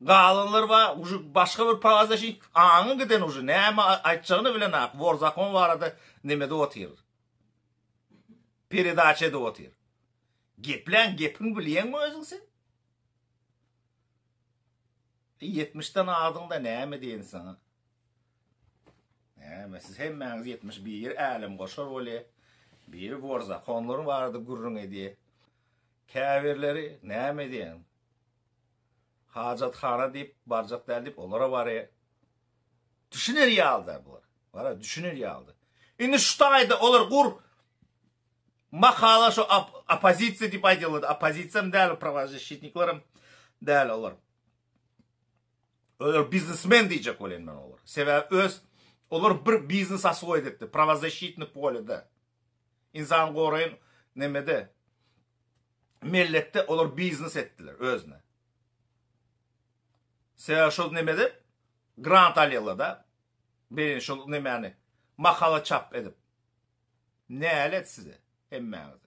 Galanlar ba uje başga bir pagaza şi aňy giden uje näme aýtjagyny bilenok wor zakon barada nemede otyr peredaça edip otyr geplän gepiň bilýeňmi özüň sen e ýetmiş den adyňda näme diýen saňa näme siz hemmäňiz ýetmiş bir älem goşar bolýa biri wor zakonlaryň barada gürrüň edýä käbirleri näme diýen Hajathana diýip barjak däl diýip olara bary düşüner ýalyda bular. Bara düşüner ýalyda. Indi şu taýda olar gur makala şu opozisiýa diýip aýdýarlar. Opozisiýam däl, prawazişitniklerim däl olar. Olar biznesmen diýjek bolan men olar. Sebäbi öz olar bir biznes aswoýt etdi, prawazişitnik polýada. Ynsany goraýyn nemede mellekde olar biznes etdiler özüne. Sebäbi şol nemede grant alýarlarda beýle şol nemäni makala çap edip. Nälet size hemmäňize.